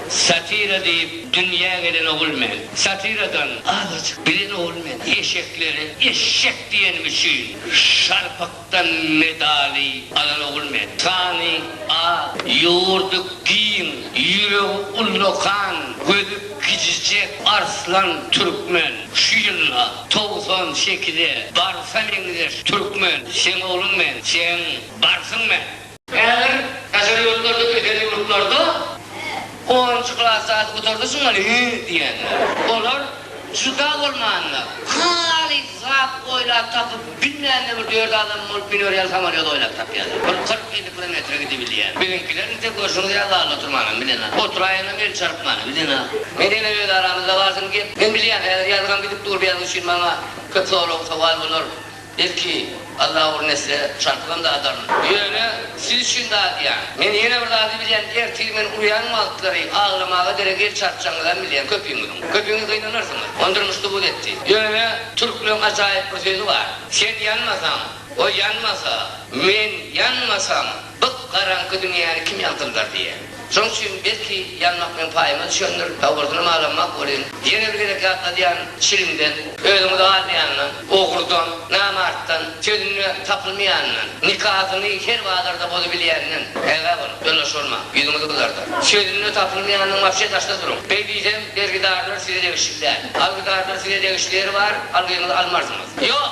Satira diýip dünýä gelen ogul men. Satiradan azajyk bilen ogul men. Eşeklere eşşek diýenim üçin şarpykdan medaly alan ogul men. Sany az, ýurdy giň, ýüregi ullakan, gözi gijijek arslan türkmen. Şu ýylda togsan sekize barsa meňzeş türkmen. Seň ogluň men, seň barsyň men. Häzir daşary ýurtlarda ösen ýurtlarda onunjy klasy alyp gutardyşyň welin hü diýýänler. Olar juda bolmanda halys zat oýlap tapyp bilmände bir dört adam bolup minorýan samolýot oýlap tapýarlar. Bir kyrk elli kilometre gidibilýän. Biziňkiler inte görşüňiz ýaly zalda oturmanam bilenok. Oturaýanam el çarpmanam bilenok. Men ýene öz aramyzda barsyn gep. Men bilýän häzir ýazgam gidip dur bu ýazgy üçin maňa köp sorag sowal bolar. Belki, Alla ol nesle çarpylan zadaryn. Ýöne, siz üçin dadýan. Men ýene bir zady bilýän, ertir men urýan wagtlary aglamaga derek el çarpjagyňyzam bilýän köpüňiziň. Köpüňiz gynanarsyňyz. Ony durmuş subut etdi. Ýöne, türkleriň ajaýyp bir sözi bar. Sen ýanmasaň, goý ýanmasa, men ýanmasam, Gyp garaňky dünýäni kim ýagtyldar diýýä. Şoň üçin belki ýanmak bilen paýyma düşendir, dabardynam alanmak welin, ýene bir gezek ýatladýan çilimden, özüňizi almaýandan, ogrdan, namartdan, sözünde tapylmaýandan, nikasyny her bazarda bozubilýänden ägä boluň, ýoldaş bolma, ýüzüňizi gyzardar. Sözünde tapylmaýandan wapşe daşda duruň. Beý diýsem, bergidarlar size degişli däl. Algydarlar size degişli ýeri bar, algyňyzy almarsyňyz. Ýok!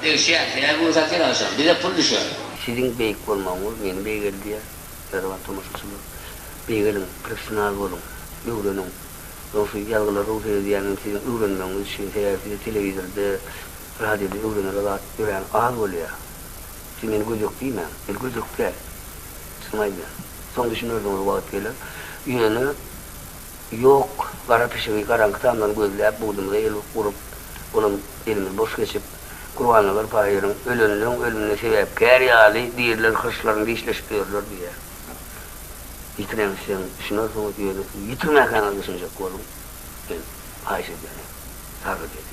Degişýär, her gün satyr agşam, bize pul düşer. Siziň beýik bolmagyňyz meni beýgeldýär, mähriban tomaşaçylar. Beýgeliň, professional boluň, öwreniň. Onsuz ýazgylar ruh seredýänem siziň öwrenmegiňiz üçin, sebäbi size telewizorda, radioda öwrenere zat örän az bolýar. Siz meni gödek diýmäň, men gödek däl. Çyn aýdýan. Soň düşünersiňiz wagt geler. Ýöne. Ýok, gara pişigi garaňky tamdan gözläp, bugdymyza el urup, olam elimiz boş geçip, Gurbannazar Taýyryň Ölenleň ölümine sebäpkär ýaly diriler hyrçlaryny dişleşip ýörler diýýär. Ýitirensoň düşünersiňiz, ýöne ýitirmäkäňiz düşünjek boluň, men haýyş edýärin, sargyt edýärin.